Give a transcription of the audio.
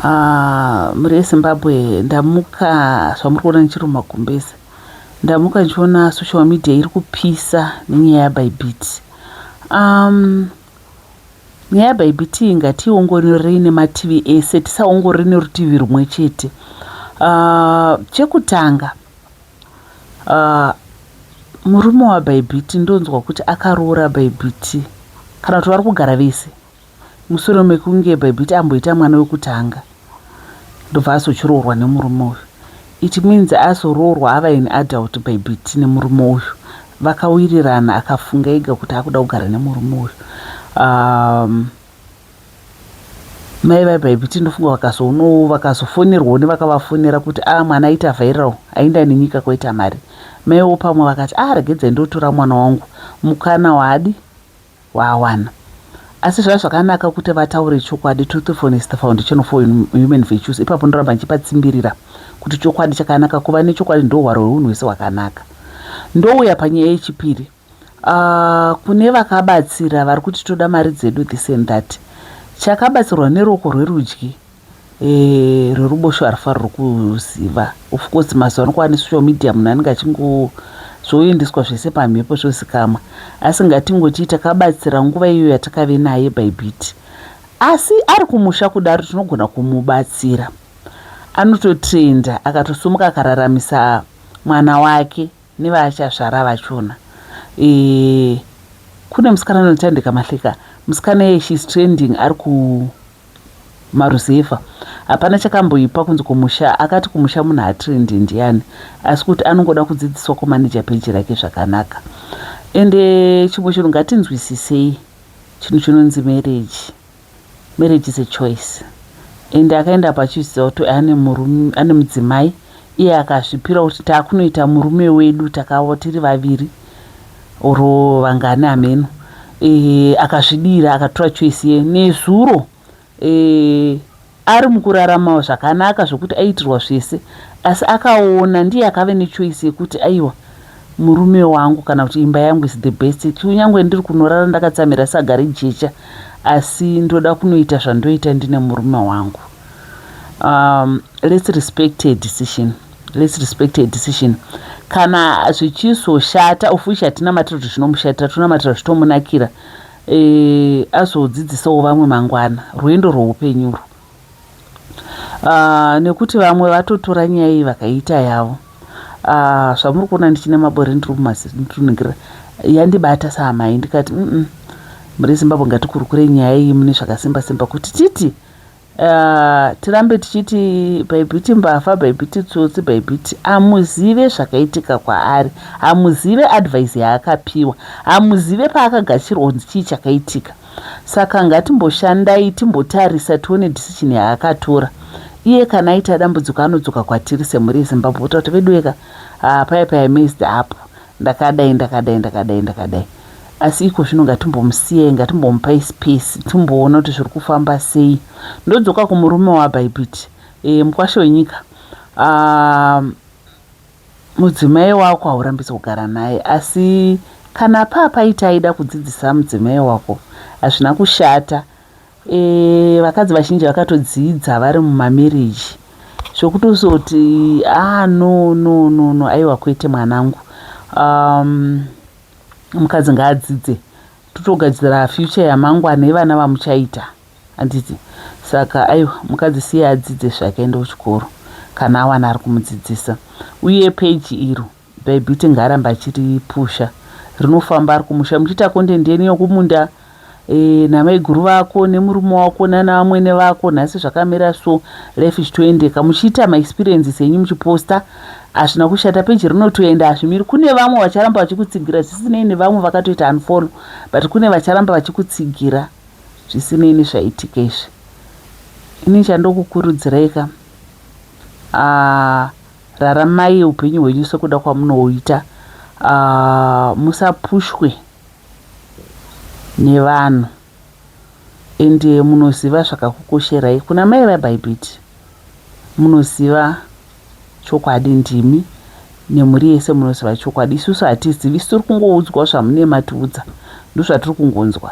Ah, mhuri yezimbabwe ndamuka zvamuri kuona ndichiri mumagumbeze ndamuka ndichiona social media iri kupisa nenyaya yabaibit um, nyaya yabaibit ngationgororei nemativi ese tisaongorore nerutivi rumwe chete uh, chekutanga uh, murume wabaibit ndonzwa kuti akaroora baibit kana kuti vari kugara vese Mushure mekunge Bybit amboita mwana wekutanga ndobva azochiroorwa nemurume uyu. It means azoroorwa ava an adult Bybit nemurume uyu. Vakawirirana akafunga ega kuti akuda kugara nemurume uyu. Um, mai vaBybit ndofunga vakazoonawo vakazofonerwawo nevakavafonera kuti a ah, mwana aita viral ainda nenyika kwaita mari. Maiwo pamwe vakati a ah, regedzai ndotora mwana wangu mukana waadi waawana asi zvaiva zvakanaka kuti vataure chokwadi truthfulness is the foundation for human virtues ipapo ndoramba ndichipatsimbirira kuti chokwadi chakanaka kuva nechokwadi ndohwaro hweunhu hwese hwakanaka ndouya panyaya yechipiri uh, kune vakabatsira vari kuti toda mari dzedu this and that chakabatsirwa neruoko rwerudyi Eh reruboshwe harifarirwi kuziva of course mazuva ano kwava nesocial media munhu anenge achingo zvoendeswa zvese pamhepo zvozikamwa asi ngatingoti takabatsira nguva iyo yatakave naye by bit asi ari kumusha kudaro tinogona kumubatsira anototenda akatosumuka akararamisa mwana wake nevaachazvara vachona e, kune musikana anotandika mahleka musikana ye shes trending ari ku Maruzevha hapana chakamboipa kunzi kumusha akati kumusha munhu hatrende ndiani asi kuti anongoda kudzidziswa kumaneja peji rake zvakanaka ende chimwe chinhu ngatinzwisisei chinhu chinonzi mereji mereji is a choice ende akaenda apa achiziva kuti ane mudzimai Iye akazvipira kuti takunoita murume wedu takavo tiri vaviri or vangani hameno eh, akazvidira akatora choice ye nezuro eh, ari mukuraramawo zvakanaka zvokuti aiitirwa zvese asi akaona ndiye akave nechoice yekuti aiwa murume wangu kana kuti imba yangu is the best kunyangwe ndiri kunorara ndakatsamira saga rejecha asi ndoda kunoita zvandoita ndine murume wangu um, let's respect her decision let's respect her decision kana zvichizoshata of which hatinamatira kuti zvinomushatira tinonamatira zvitomunakira e, azodzidzisawo vamwe mangwana rwendo rwoupenyuro uh, nekuti vamwe vatotora nyaya iyi vakaita yavo uh, zvamuri kuona ndichine mabore ndiri kumazitunungira yandibata saamai ndikati mm -mm. muri zimbabwe ngatikurukure nyaya iyi mune zvakasimba simba kuti titi Uh, tirambe tichiti bhaibhiti mbavha bhaibhiti tsotsi bhaibhiti hamuzive zvakaitika kwaari hamuzive advise yaakapiwa hamuzive paakagashirwa kunzi chii chakaitika saka ngatimboshandai timbotarisa tione decision yaakatora iye kana aita dambudziko anodzoka kwatiri semhuri yezimbabwe kuta kuti veduweka uh, ah, paya paya messed up Ndakadai ndakadai ndakadai ndakadai asi iko zvino ngatimbomusiyai ngatimbomupai space timboona kuti zviri kufamba sei ndodzoka kumurume wabaipiti e, eh, mukwasha wenyika ah, mudzimai wako haurambidzi kugara naye asi kana paa paita aida kudzidzisa mudzimai wako hazvina kushata Eh, vakadzi vazhinji vakatodzidza vari mumamarriage zvokutozoti ah no no no no aiwa kwete mwanangu um, mukadzi ngaadzidze totogadzira future yamangwana yevana vamuchaita handiti saka aiwa mukadzi siye adzidze zvake ende kuchikoro kana awana ari kumudzidzisa uye peji iro Bybit ngaaramba achiri pusha rinofamba ari kumusha muchiita content yenyu yokumunda eh, namaiguru vako nemurume wako nana amwene vako nhasi zvakamira so life ichitoendeka muchiita maexperiences enyu muchiposta hazvina kushata peji rinotoenda hazvimiri kune vamwe vacharamba vachikutsigira zvisinei nevamwe vakatoita unfollow but kune vacharamba vachikutsigira zvisinei nezvaitika izvi ini chandokukurudzirai ka ah, Raramai hupenyu hwenyu sekuda kwamunoita uh, musapushwe nevanhu and eh, munoziva zvakakukosherai kuna mai vabhaibhiti munoziva chokwadi ndimi nemhuri yese munoziva chokwadi isusu hatizivi isi tiri kungoudzwa zvamunema tiudza ndozvatiri kungonzwa